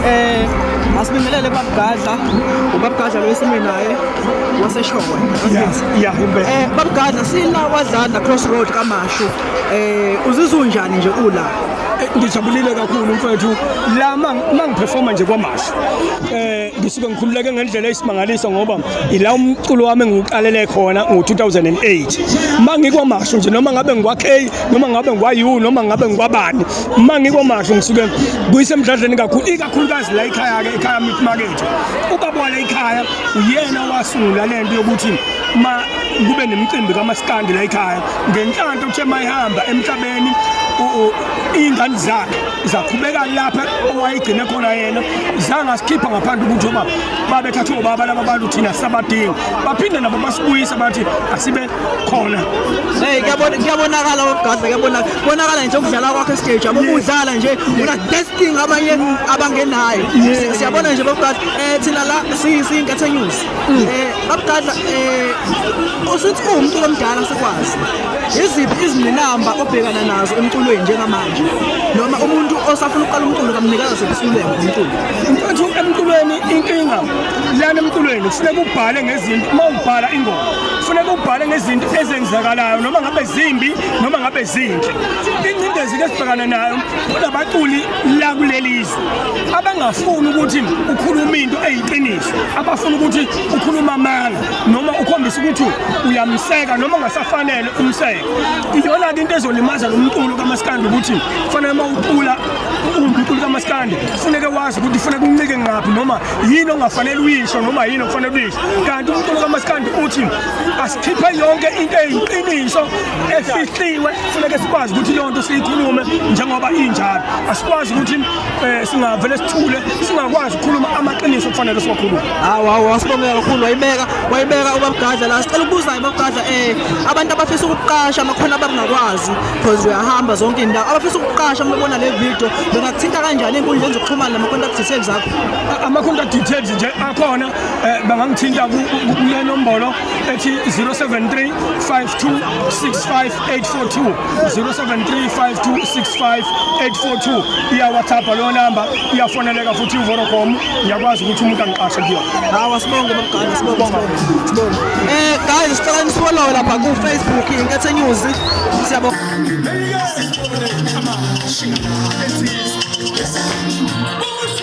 eh asibingelele babgadla ubabgadla lo esimile naye waseshokwe yeah impela eh babgadla sina wadlala crossroad kamashu eh uzizwa unjani nje ula eh, ngijabulile kakhulu mfethu la mangiperforma nje kwamashu eh ngisuke ngikhululeke ngendlela eyisimangaliso ngoba ila umculo wami engiwuqalele khona ngo-2008 mangikwamashu nje noma ngabe ngikwa-k noma ngabe ngwayiwu noma ngabe ngikwabani uma ngikomasho ngisuke kuyise emdladleni kakhulu ikakhulukazi la ikhaya-ke ekhaya mithi makethe ubaba wala ikhaya uyena wasungula le nto yokuthi ma kube nemicimbi kamasikandi la ikhaya ngenhlanhla uthe ma ihamba emhlabeni iy'ngane zakhe zaqhubeka lapha owayigcine khona yena zangasikhipha ngaphandle ukuthi oba babethathwe ubaba laba bantu thina sabadinga baphinde nabo basibuyisa bathi asibe khona hey kuyabona kuyabonakala wabgadla kuyabona bonakala nje ukudlala kwakhe stage amukudlala nje una testing abanye abangenayo siyabona nje babgadla eh thina la siyinkathe news mm. eh babgadla eh usuthi umuntu omdala sikwazi iziphi izinqinamba obhekana nazo emculweni njengamanje noma umuntu osafuna ukuqala umculo kamnikazi sebesuleke umculo mfethu emculweni inkinga lana emculweni kufuneka ubhale ngezinto uma ubhala ingoma kufuneka ubhale ngezinto ezenzakalayo noma ngabe zimbi noma ngabe zinhle ingcindezi ke sibhekana nayo kunabaculi la kuleli zwe abangafuni ukuthi ukhulume into eyiqiniso abafuna ukuthi ukhuluma amanga noma ukhombisa ukuthi uyamseka noma ungasafanele umseka iyona-ke into ezolimaza lo mculo kamasikandi ukuthi kufanele uma ucula umculo kamasikandi kufuneke wazi ukuthi kufuneka uncike ngaphi noma yini ongafanele uyisho noma yini okufanele uyisho kanti umculo kamaskandi uthi asikhiphe yonke into eyiqiniso efihliwe funeke sikwazi ukuthi leyo nto siyikhulume njengoba injalo asikwazi ukuthi um singavele sithule singakwazi ukukhuluma amaqiniso kufanele siwakhulume hawu hawu wasibongela kakhulu wayibeka wayibeka ubabgadla la sicela ukubuzayo babgadla um eh, abantu abafisa ukuqasha amakhona abangakwazi because uyahamba zonke indawo abafisa ukuqasha uma bebona le video bengakuthinta kanjani ey'nkundleni zokuxhumana nama-contact details akho ama-contact details nje akhona eh, bangangithinta kule nombolo ethi 073 5265842 073 5265842 iyawhatsapp leyo namba iyafoneleka futhi uvodacom ngiyakwazi ukuthi umuntu angiqashe kuyona hawa sibonge babugane sibonge sibonge eh guys sicela nisfollowe lapha ku facebook inkethe news siyabonga Yes,